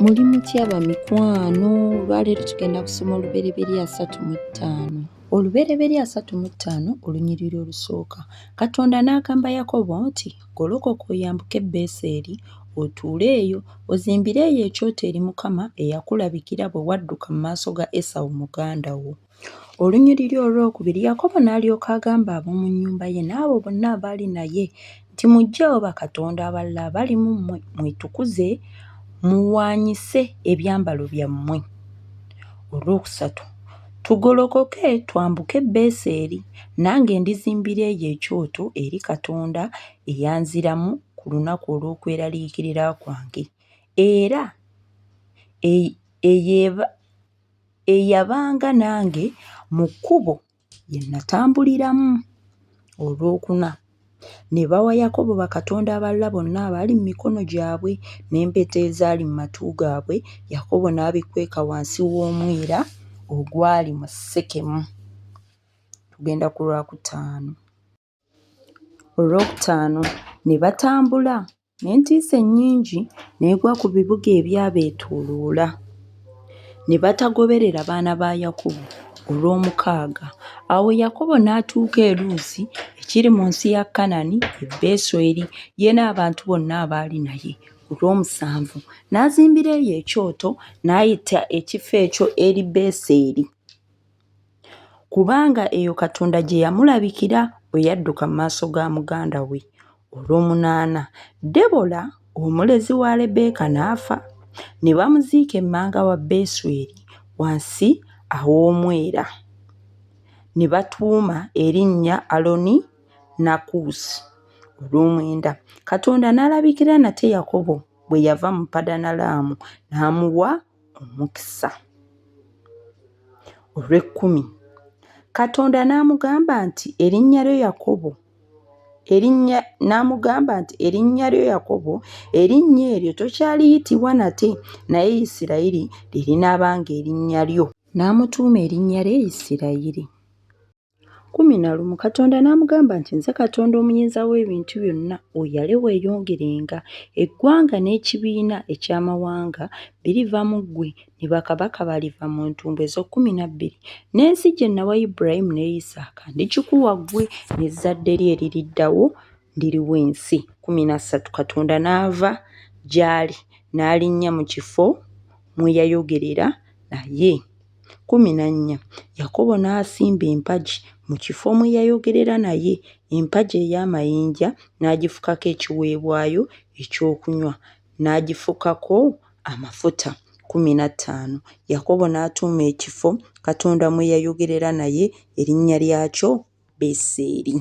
muli mutya bamikwano olwaleero tugenda kusoma olubereberye asatu mu ttaano olubereberye asatu mu ttaano olunyiriri olusooka katonda n'agamba yakobo nti golokoka oyambuke beeseeri otuule eyo ozimbire eyo ekyoto eri mukama eyakulabikira bwe wadduka mu maaso ga esawu muganda wo Olunyiriri olw'okubiri Yakobo n'alyoka agamba ab'omu nnyumba ye n'abo bonna abaali naye nti, Muggyeewo bakatonda abalala abali mu mmwe, mwetukuze, muwaanyise ebyambalo byammwe. Olwokusatu Tugolokoke twambuke Beseri, nange ndizimbira eyo ekyoto eri Katonda eyanziramu ku lunaku olw'okweraliikirira kwange, era eyo eyabanga nange mu kkubo lye natambuliramu, olwokuna, ne bawa Yakobo bakatonda abalala bonna abaali mu mikono gyabwe, n'empeta ezaali mu matu gaabwe, Yakobo n'abikweka wansi w'omwera ogwali mu Sekemu. Tugenda ku Lwakutaano. Olwokutaano ne batambula n'entiisa ennyingi n'egwa ku bibuga ebyabeetooloola, ne batagoberera baana ba Yakobo. Olwomukaaga awo Yakobo n'atuuka e Luusi ekiri mu nsi ya Kanani e Besweri, ye n'abantu bonna abaali naye. Olwomusanvu n'azimbira eyo ekyoto, n'ayita ekifo ekyo Eri-Beseri. Kubanga eyo Katonda gye yamulabikira bwe yadduka mu maaso ga muganda we. Olw'omunaana, Debola, omulezi wa Lebbeeka n'afa, ne bamuziika emmanga wa Besweri wansi aw'omwera, ne batuuma erinnya Aloni Nakuusi. Olw'omwenda, Katonda n'alabikira nate Yakobo bwe yava mu Padanalaamu n'amuwa omukisa. Olw'ekkumi, Katonda n'amugamba nti erinnya lyo Yakobo erinnya n'amugamba nti erinnya lyo Yakobo erinnya eryo tokyaliyitibwa nate naye Isirayiri lye linaabanga erinnya lyo. N'amutuuma erinnya lye Isirayiri. Kkumi na lumu Katonda n'amugamba nti, Nze Katonda Omuyinza w'Ebintu Byonna, oyale weeyongerenga. Eggwanga n'ekibiina eky'amawanga biriva mu ggwe, ne bakabaka baliva mu ntumbwe ez'okkumi na bbiri. N'ensi gye nawa Ibulayimu ne Isaaka ndigikuwa ggwe n'ezzadde lyo eririddawo, ndiriwa ensi. Kkumi na ssatu Katonda n'ava gy'ali n'alinnya mu kifo mwe yayogerera naye. Kkumi na nnya, Yakobo n'asimba empagi mu kifo mwe yayogerera naye, empagi ey'amayinja n'agifukako ekiweebwayo ekyokunywa, n'agifukako amafuta. Kkumi na ttaano, Yakobo n'atuuma ekifo Katonda mwe yayogerera naye erinnya lyakyo Beseri.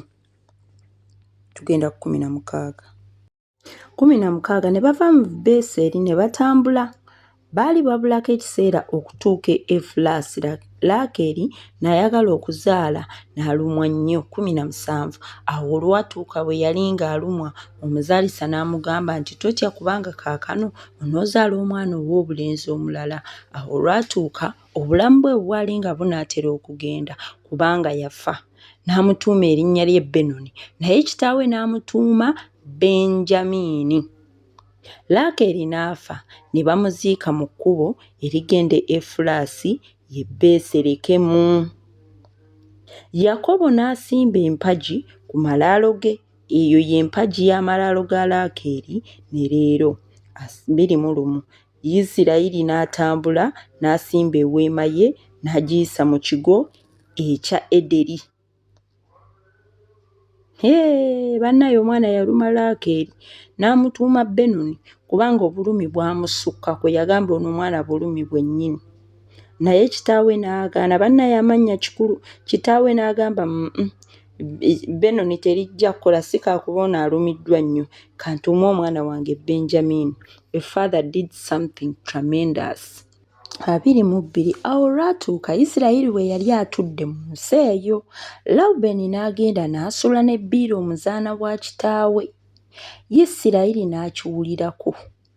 Tugenda ku kkumi na mukaaga. kkumi na mukaaga ne bava mu beeseeri ne batambula baali babulako ekiseera okutuuka efulaasi laakeri n'ayagala okuzaala n'alumwa nnyo kkumi na musanvu awo olwatuuka bwe yali ng'alumwa omuzaalisa n'amugamba nti totya kubanga kaakano onoozaala omwana ow'obulenzi omulala awo olwatuuka Obulamu bwe bwali nga bunaatera okugenda kubanga yafa. N'amutuuma erinnya lye Benoni, naye kitaawe n'amutuuma Benjamiini. Laakeeri n'afa, ne bamuziika mu kkubo erigenda e Efulaasi ye Beeserekemu. Yakobo n'asimba empagi ku malaalo ge, eyo y'empagi y'amalaalo ga Laakeeri ne leero. Biri mu lumu. Isirayiri n'atambula n'asimba eweema ye n'agiyisa mu kigo ekya Ederi. Hee, bannaye omwana yaluma Laakeeri n'amutuuma Benoni kubanga obulumi bwamusukka kwe yagamba ono omwana bulumi bwennyini. Naye kitaawe n'agaana, bannaye amannya kikulu, kitaawe n'agamba, Benoni terijja kukola si kaakuba ono alumiddwa nnyo kantuume omwana wange Benjamin a father did something tremendous abiri mu bbiri awo olwatuuka Isirayiri bwe yali atudde mu nsi eyo Lawubeni n'agenda n'asula ne Biira omuzaana wa kitaawe Isirayiri n'akiwulirako.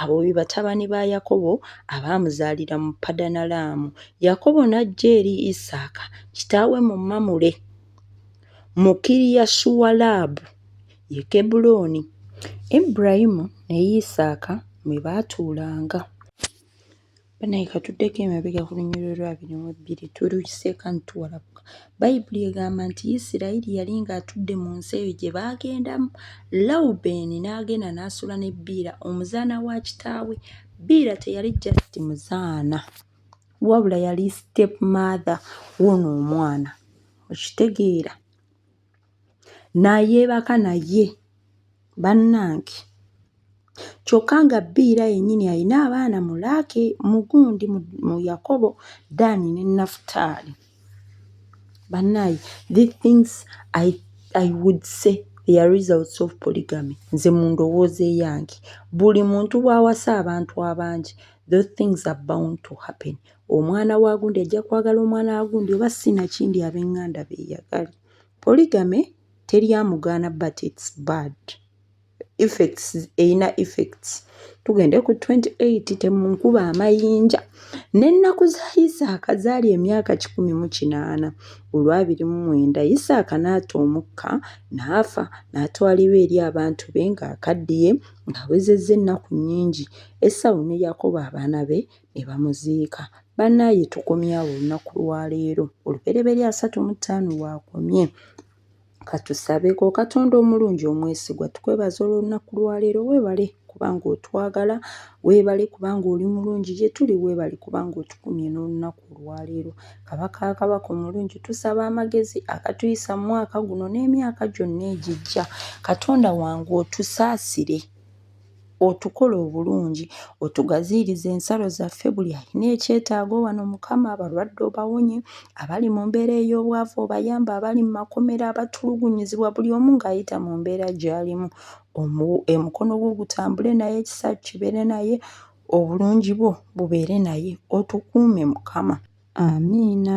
Abo be batabani ba Yakobo abaamuzaalira mu Padanalaamu. Yakobo n'ajja eri Isaaka kitaawe mu Mamule, mu Kiriyasuwalaabu, ye Kebbulooni. Ibulayimu ne Isaaka mwe baatuulanga. Banaye katuddeko emabega ku lunyiriro lwa abiri mu ebbiri tulukiseeko antuwalabuka bayibuli egamba nti isirayiri yali ng'atudde mu nsi eyo gye baagendamu lawubeeni n'agenda n'asula ne biira omuzaana wa kitaawe biira teyali just muzaana wabula yali step mother woono omwana okitegeera nayeebaka naye bannange kyokka nga bbiira yennyini alina abaana mu laaki mu gundi mu Yakobo, Ddaani ne Nafutaali. Bannaaye these things I I would say they are results of polygamy nze mu ndowooza eyange buli muntu bw'awasa abantu abangi those things are bound to happen. omwana wa gundi ajja kwagala omwana wa gundi oba sinakindi abenganda beyagale polygamy teri amugaana but its bad effects eyina effects tugende ku 28 temunkuba amayinja n'ennaku za isaaka zaali emyaka kikumi mu kinaana olwabiri mu mwenda isaaka n'ata omukka n'afa n'atwalibwa eri abantu be ng'akaddiye ng'awezezza ennaku nnyingi esawu ne yakobo abaana be ne bamuziika. Bannaaye tukomye awo olunaku lwa leero, olubereberye asatu mu ttaano waakomye. Katusabeko Katonda omulungi omwesigwa tukwebaza olw'olunaku lwa leero weebale kubanga otwagala, weebale kubanga oli mulungi gye tuli, weebale kubanga otukumye n'olunaku olwaleero. Kabaka kabaka omulungi tusaba amagezi agatuyisa mu mwaka guno n'emyaka gyonna egijja. Katonda wange otusaasire. otukole obulungi otugaziirize ensalo zaffe buli alina ekyetaago wano mukama abalwadde obawonye abali mu mbeera ey'obwavu obayamba abali mu makomera abatulugunyizibwa buli omu ng'ayita mu mbeera gy'alimu omukono gwo gutambule naye ekisa kibeere naye obulungi bwo bubeere naye otukuume mukama amiina